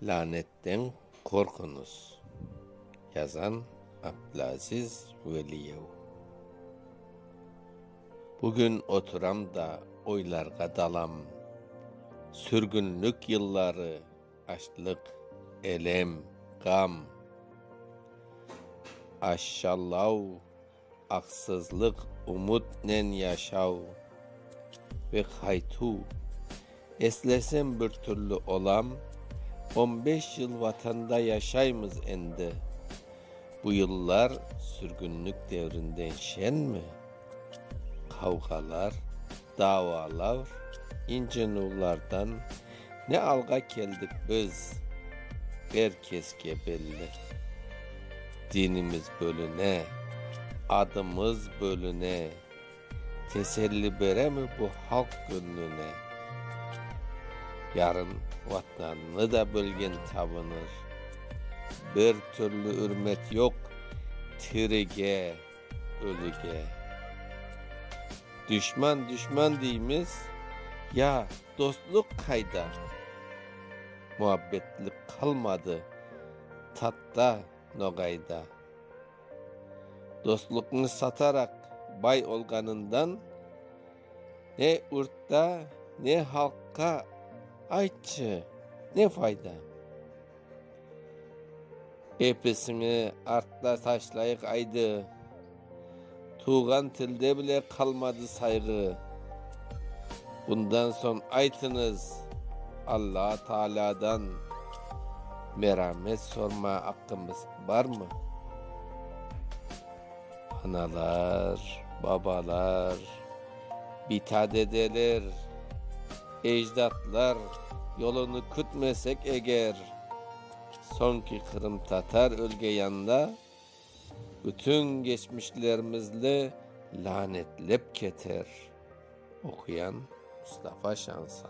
Lânetten qorquñız! Yazan, Abdülaziz Veliyev Bugün oturam da oylarğa dalam. Sürgünlik yılları, açlıq, elem, ğam, aşşalav. Aqsızlıq umutnen yaşav ve qaytuv. Eslesem bir türlü olam, on beş yıl Vatanda yaşaymız endi. Bu yıllar sürgünlik devrinden şenmi? Qavğalar, davalar, incenuvlardan ne alğa keldik biz, er keske belli. Dinimiz bölüne, adımız bölüne, teselli beremi bu halq göñlüne? Yarın Vatnannı da bölgen tabınır. Bir türlü ürmet yoq tirige. Ölüge duşman duşman deymiz, ya dostluq qayda? Muabbetlik qalmadı tatta, noğayda. Dostluqnı sataraq bay olğanından, ne ürtta, ne halqqa, aytçı, ne fayda? Episini artta taşlayıq aydı. Tuvğan tilde bile qalmadı sayğı. Bundan soñ aytıñız, Alla Taalâdan meramet sorma aqqımız barmı? Analar, babalar, bita dedeler. Ecdatlar yolunı kütmesek eger, soñki qırımtatar ölgeyanda bütün geçmişlerimizli lanetlep keter. Oquyan, Mustafa Şansa.